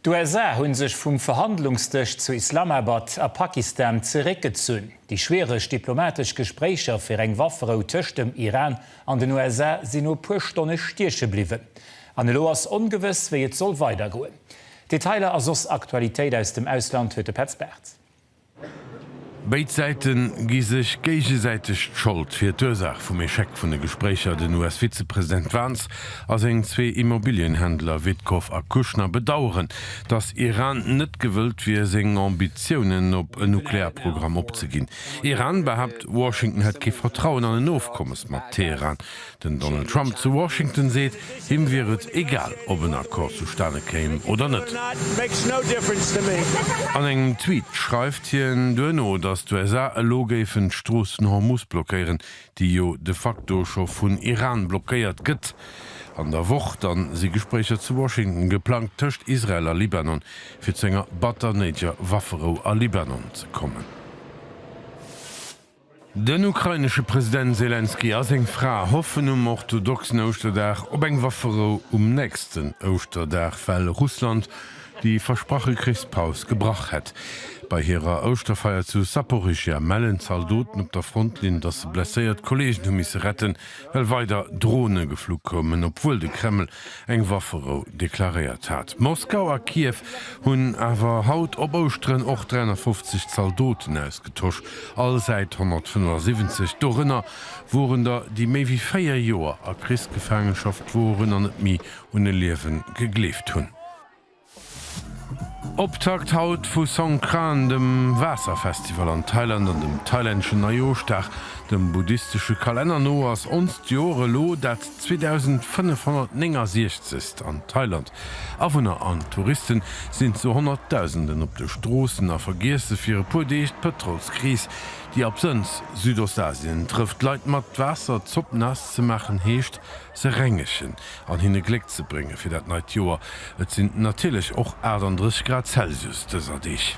D'USA hunn sech vum Verhandlungsdësch zu Islamabad a Pakistan zeréckgezunn. Déi schwiereg diplomatesch Gespréicher fir eng Wafferou tëscht dem Iran an den USA sinn no e puer Stonne stieche bliwwen. An elo ass ongewëss, wéi et soll weidergoen. Detailer a soss Aktualitéit aus dem Ausland huet de Petz Bartz. Béid Säite gi sech géigesäiteg d'Schold fir d'Ursaach vum Echec vun de Gespréicher. Den US-Vizepresident Vance a seng zwee Immobilienhändler Witkoff a Kushner bedaueren, datt Iran net gewëllt wier, seng Ambitiounen op e Nuklearprogramm opzeginn. Iran behaapt, Washington hätt kee Vertrauen an en Ofkommes mat Teheran. Den Donald Trump zu Washington seet, him wier et egal, ob en Accord zustane kéim oder net. An engem Tweet schreift hien duerno, datt d'USA elo géifen d'Strooss den Hormus blockéieren, déi jo de facto scho vun Iran blockéiert gëtt. An der Woch da si Gespréicher zu Washington geplangt tëscht Israel a Libanon, fir zu enger batter néidger Wafferou a Libanon ze kommen. Den ukrainesche President Selenskyj a seng Fra hoffen um orthodoxen Ouschterdag op eng Wafferou um nächsten Ouschterdag, well Russland déi versprache Krichspaus gebrach hätt. Bei hirer Ouschterfeier zu Saporischschja mellen Zaldoten op der Frontlinn, datt se blesséiert Kolleegen hu misse retten, well weider Drone geflu koumen, obwuel de Kreml eng Wafferou deklaréiert hat. Moskau a Kiew hunn awer haut op Ouschteren och 350 Zaldoten ausgetosch, all Säit 175. Dorënner woren der, déi méi wéi véier Joer a Krichsgefaangenschaft woren an net méi un e Liewen gegleeft hunn. Optakt haut vu Songkran, dem Waasserfestival an Thailand an dem thailänneschen Neijoerschdag. Dem buddhistesche Kalenner no ass onst Joer elo dat 2569. An Thailand. Awunner an Touristen sinn zu Honnertdausenden op de Stroossen a vergiesse fir e puer Deeg d'Pëtrolskris, déi absënns Südostasien trëfft. Leit mat Waasser Zopp naass ze maachen, heescht se rengegen. an hinne Gléck ze brénge fir dat neit Joer. Et sinn natierlech och 38 Grad Celsius dëser Deeg.